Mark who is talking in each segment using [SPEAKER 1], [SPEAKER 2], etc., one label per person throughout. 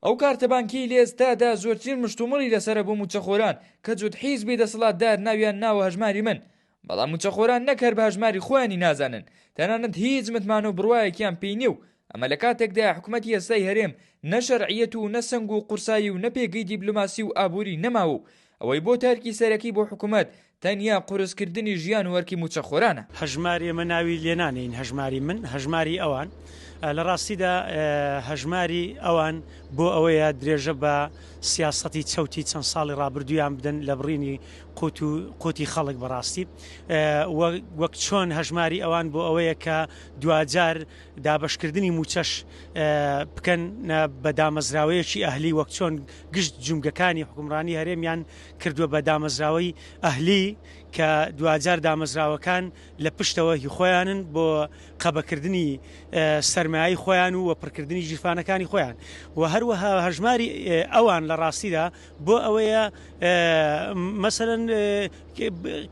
[SPEAKER 1] ئەو کارتە بانکیەی لە ئێستادا زۆرترین مشتومڕی لەسەرە بۆ موچەخۆران کە جوت حیزبی دەسەڵاتدار ناویان ناوە هەژماری من بەڵام موچەخۆران نەک هەر بە هەژماری خۆیانی نازانن تەنانەت هیچ متمان و بڕوایەکیان پێی نیە و ئەمە لە کاتێکدایە حکومەتی ئێستای هەرێم نە شەرعیەت و نە سەنگ و قورسایی و نە پێگەی دیبلۆماسی و ئابوری نەماوە و ئەوەی بۆ تارکی سەرەکی بۆ حکومەت تەنیا قورس کردنی ژیان و ئەرکی مووچەخۆرانە. هەژمار ئێمە ناوی
[SPEAKER 2] لێنانێین هەژماری من هەژماری ئەوان لە ڕاستیدا هەژماری ئەوان بۆ ئەوەیە درێژە بە سیاسەتی چەوتی چەند ساڵی ڕابردویان بدەن لە بڕینی قوت و قوتی خەڵک بەڕاستی وەک چۆن هەژماری ئەوان بۆ ئەوەیە کە دواجار دابشکردنی موچەش بکەن بە دامەزراوەیەکی ئەهلی وەک چۆن گشت جومگەکانی حکومڕانی هەرێمیان کردوە بە دامەزراوەی ئەهلی کە دواجار دامەزراوەکان لە پشتەوە هی خۆیانن بۆ قەبەکردنی سەرمایەی خۆیان و وەپڕکردنی ژیرفانەکانی خۆیان و هەروەها هەژماری ئەوان لە ڕاستیدا بۆ ئەوەیە مەسەرەن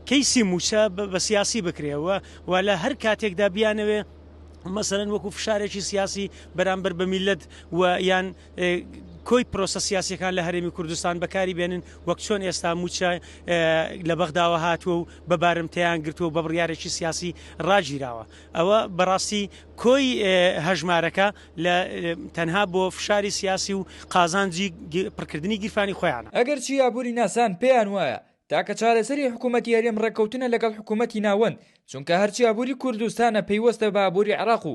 [SPEAKER 2] کەیسی موچە بە سیاسی بکرێەوە و لە هەر کاتێکدا بیانەوێ مەسەرەن وەکو فشارێکی سیاسی بەرامبەر بە میلەت و یان کۆی پرۆسە سیاسیەکان لە هەرێمی کوردستان بەکاری بێنن وەک چۆن ئێستا موچە لە بەغداوە هاتووە و بە بارمتەیان گرتووە بە بڕیارێکی سیاسی ڕاگیراوە ئەوە بەڕاستی کۆی هەژمارەکە لە تەنها بۆ فشاری سیاسی و قازانجی پڕکردنی گیرفانی خۆیانە. ئەگەرچی ئابووری
[SPEAKER 1] ناسان پێیان وایە تاکە چارەسەری حکوومەتی هەرێم ڕێککەوتنە لەگەڵ حکوومەتی ناوەند، چونکە هەرچی ئابووری کوردستانە پەیوەستە بە ئابووری عێراق و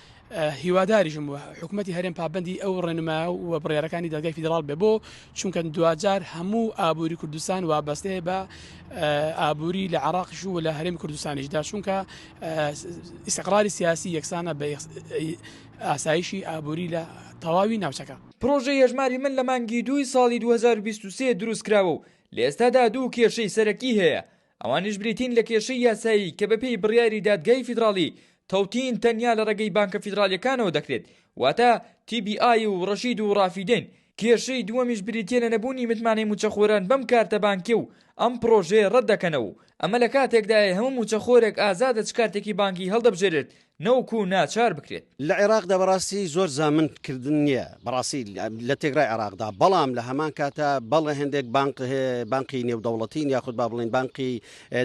[SPEAKER 3] هیواداریشم بوو حکوومەتی هەرێم پابندی ئەو ڕێنما و بڕارەکانی دەگای فیدرال بێ بۆ چونکە دواجار هەموو ئابووری کوردستان وابەستێ بە ئابووری لە عراقش و لە هەرێم کوردستانیشدا چونکە ئیسقراری سیاسی یەکسانە بە ئاسایشی ئابووری لە تەواوی ناوچەکە پرۆژە یەژماری
[SPEAKER 1] من لە مانگی دووی ساڵی 2023 دروستکراوە و لە ئێستادا دوو کێشەی سەرەکی هەیە ئەوانیش بریتین لە کێشەی یاسایی کە بەپێی بڕیاری دادگای فیدراڵی تەوتین تەنیا لە ڕێگەی بانکە فیدراڵیەکانەوە دەکرێت واتە تی بی ئای و ڕەشید و ڕافیدەین، کێشەی دووەمیش بریتیە لە نەبوونی متمانەی مووچەخۆران بەم کارتە بانکیە و ئەم پڕۆژەیە ڕەت دەکەنەوە و ئەمە لە کاتێکدایە هەموو مووچەخۆرێک ئازادە چ کارتێکی بانکی هەڵدەبژێرێت نەوەکو ناچار بکرێت. لە عێراقدا بەڕاستی
[SPEAKER 4] زۆر زامن کردن نیە بەڕاستی لە تێکرای عێراقدا بەڵام لە هەمان کاتا بەڵێ هێندێک بانق بانقی نێودەوڵەتین یاخود با بڵێن بانقی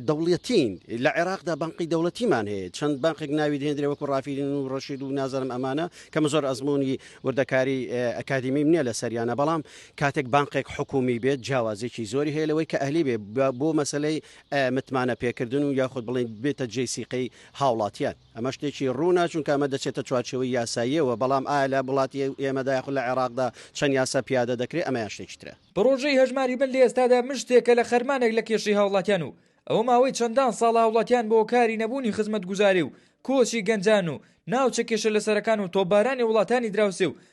[SPEAKER 4] دەوڵەتین لە عێراقدا بانقی دەوڵەتیمان هەیە چەند بانقێک ناوی دێندرێ وەکو ڕافیرین و ڕەشید و نازانم ئەمانە کەمە زۆر ئەزمموی وردەکاری ئەکادیمیم نییە لە سەریانە بەڵام کاتێک بانقێک حکومی بێت جیاوازێکی زۆری هەیە لەوەی کە ئەهلی بێ بۆ مەسلەی متمانە پێکردن و یاخود بڵین بێتە جێ سیقەی هاوڵاتیان. ئەمە شتێکی ڕوونە، چونکە ئەمە دەچێتە چوارچێوەی یاساییەوە، بەڵام ئایا لە وڵاتی ئێمەدا یاخود لە عێراقدا چەند یاسا پیادە دەکرێت، ئەمەیان شتێکی ترە. پڕۆژەی هەژماری من
[SPEAKER 1] لە ئێستادا من شتێکە لە خەرمانێک لە کێشەی هاوڵاتیان و ئەوە ماوەی چەندان ساڵە هاوڵاتیان بە هۆکاری نەبوونی خزمەتگوزاری و کۆچی گەنجان و ناوچە کێشە لەسەرەکان و تۆپبارانی وڵاتانی دراوسێ و